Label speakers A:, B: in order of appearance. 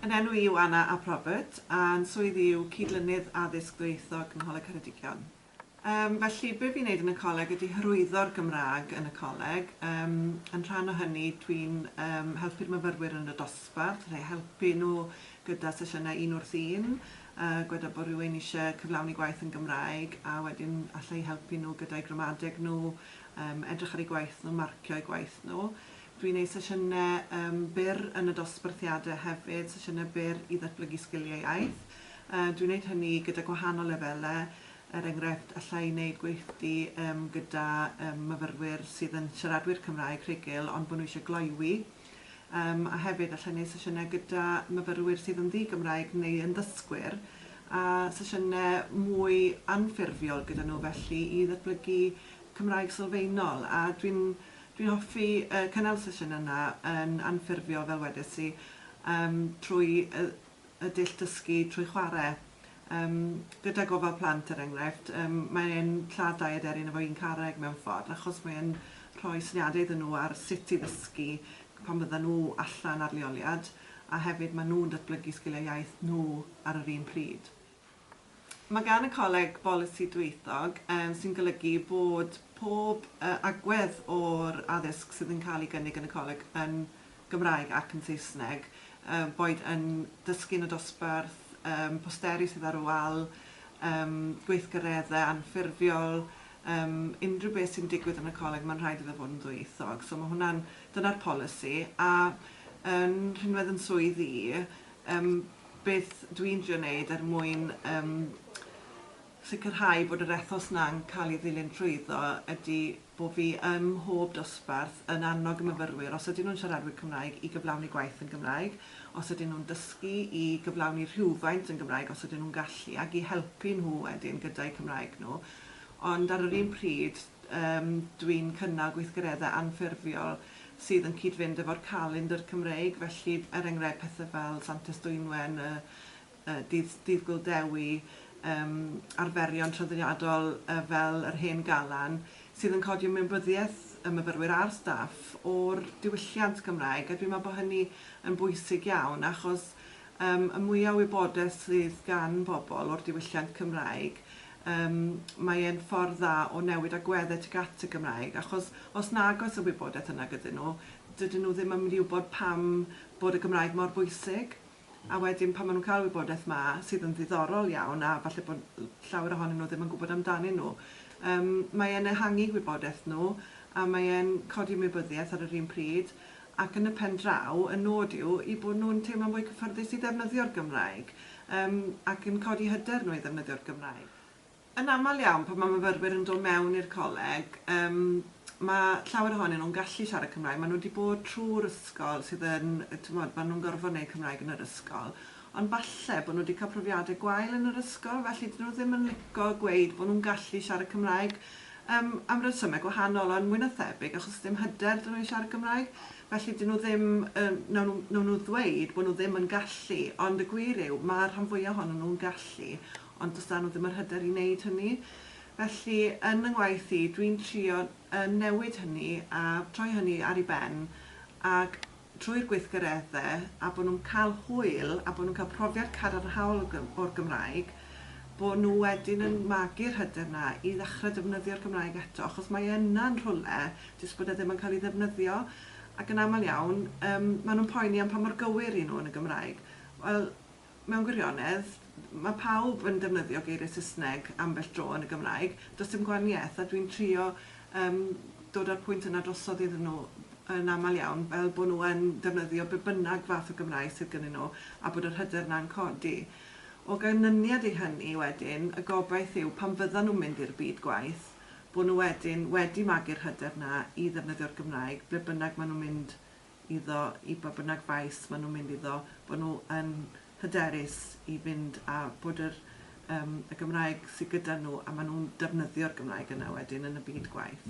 A: Yn enw i yw Anna ap Robert, a'n swydd i yw Cydlynydd Addysg Ddwyieithog yng Ngholeg Ceredigion. Yym, felly, be fi'n neud yn y coleg ydi hyrwyddo'r Gymrâg yn y coleg. Yym, yn rhan o hynny, dwi'n yym helpu'r myfyrwyr yn y dosbarth, rhei helpu nhw gyda sesiynau un wrth un, a gweda bod rhywun isie cyflawni gwaith yn Gymraeg, a wedyn alla i helpu nhw gyda'u gramadeg nhw, yym, edrych ar eu gwaith nhw, marcio eu gwaith nhw. Dwi'n neud sesiyne yym byr yn y dosbarthiade hefyd, sesiyne byr i ddatblygu sgilie iaith. Dwi'n wneud hynny gyda gwahanol lefelau, er enghraifft, alla i wneud gweithdy gyda myfyrwyr sydd yn siaradwyr Cymraeg rhugl ond bod nhw eisiau gloywi, a hefyd alla i wneud sesiynau gyda myfyrwyr sydd yn ddi-Gymraeg neu yn ddysgwyr, a sesiynau mwy anffurfiol gyda nhw felly i ddatblygu Cymraeg sylfaenol, a dwi'n dwi'n hoffi cynnal y sesiynau yna yn anffurfiol fel wedes i, trwy y y dull dysgu trwy chwarae. Yym, gyda gofal plant, er enghraifft, yym, mae e'n lladd dau aderyn efo un carreg mewn ffordd, achos mae e'n rhoi syniadau iddyn nhw ar sut i ddysgu pan fyddan nhw allan ar leoliad, a hefyd maen nhw'n datblygu sgiliau iaith nhw ar yr un pryd. Mae gan y Coleg bolisi dwyieithog, sy'n golygu bod pob agwedd o'r addysg sydd yn cael ei gynnig yn y Coleg yn Gymraeg ac yn Saesneg, boed yn dysgu yn y dosbarth, posteri sydd ar y wal, gweithgareddau anffurfiol, unrhyw beth sy'n digwydd yn y Coleg mae'n rhaid iddo fod yn ddwyieithog. So mae hwnna'n... dyna'r polisi. A yn rhinwedd yn swydd i, Yym, beth dwi'n drio wneud er mwyn yym sicrhau bod yr ethos 'na'n cael ei ddilyn trwyddo ydy bo' fi ym mhob dosbarth yn annog y myfyrwyr, os ydyn nhw'n siaradwyr Cymraeg, i gyflawni gwaith yn Gymraeg, os ydyn nhw'n dysgu, i gyflawni rhywfaint yn Gymraeg os ydyn nhw'n gallu, ac i helpu nhw wedyn gyda'u Cymraeg nhw. Ond ar yr un pryd, Yym, dwi'n cynnal gweithgareddau anffurfiol sydd yn cyd-fynd efo'r calendr Cymreig, felly, er enghraifft, pethe fel Santes Dwynwen, y y dydd dydd Gŵyl Dewi, yym, arferion traddodiadol yy fel yr Hen Galan, sydd yn codi ymwybyddiaeth y myfyrwyr a'r staff o'r diwylliant Gymraeg, a dwi'n meddwl bod hynny yn bwysig iawn, achos yym y mwya o wybodaeth sydd gan bobl o'r diwylliant Cymraeg, Yym, mae e'n ffordd dda o newid agweddau tuag at y Gymraeg, achos os nag oes y wybodaeth yna gyda nhw, dydyn nhw ddim yn mynd i wybod pam bod y Gymraeg mor bwysig. A wedyn pan maen nhw'n cael y wybodaeth 'ma, sydd yn ddiddorol iawn, a falle bod l- llawer ohonyn nhw ddim yn gwybod amdanyn nhw, yym, mae e'n ehangu gwybodaeth nhw, a mae e'n codi ymwybyddiaeth ar yr un pryd, ac yn y pen draw, y nod yw eu bod nhw'n teimlo'n fwy cyffyrddus i ddefnyddio'r Gymraeg yym ac yn codi hyder nhw i ddefnyddio'r Gymraeg. Yn aml iawn pan mae myfyrwyr yn dod mewn i'r coleg yym mae llawer ohonyn nhw'n gallu siarad Cymraeg, maen nhw wedi bod trwy'r ysgol sydd yn, timod, maen nhw'n gorfod wneud Cymraeg yn yr ysgol, Ond falle bod nhw wedi cael profiadau gwael yn yr ysgol, felly dydyn nhw ddim yn lico gweud bod nhw'n gallu siarad Cymraeg, yym, am resymau gwahanol, ond mwy na thebyg achos dim hyder 'da nhw i siarad Cymraeg. Felly 'dyn nhw ddim yn, wnawn nhw, wnawn nhw ddweud bod nhw ddim yn gallu, ond y gwir yw, mae'r rhan fwyaf ohonyn nhw'n gallu, ond does 'da nhw ddim yr hyder i wneud hynny. Felly, yn fy ngwaith i, dwi'n trio, yy, newid hynny a troi hynny ar ei ben, ac, trwy'r gweithgareddau a bod nhw'n cael hwyl a bod nhw'n cael profiad cadarnhaol o Gym o'r Gymraeg, bod nhw wedyn yn magu'r hyder 'na i ddechrau defnyddio'r Gymraeg eto, achos mae e yna yn rhywle, jyst bod e ddim yn cael ei ddefnyddio. Ac yn aml iawn, yym, maen nhw'n poeni am pa mor gywir 'y nhw yn y Gymraeg. Wel, Mewn gwirionedd, mae pawb yn defnyddio geiriau Saesneg ambell dro yn y Gymraeg, does dim gwahaniaeth, a dwi'n trio yym dod â'r pwynt yna drosodd iddyn nhw yn aml iawn, fel bod nhw yn defnyddio be bynnag fath o Gymraeg sydd gynnyn nhw, a bod yr hyder yna'n codi. O ganlyniad i hynny wedyn, y gobaith yw pan fyddan nhw'n mynd i'r byd gwaith, bod nhw wedyn wedi magu'r hyder yna i ddefnyddio'r Gymraeg ble bynnag maen nhw'n mynd iddo i ba bynnag faes maen nhw'n mynd iddo, bod nhw yn hyderus i fynd a bod yr yym y Gymraeg sy gyda nhw a maen nhw'n defnyddio'r Gymraeg yna wedyn yn y byd gwaith.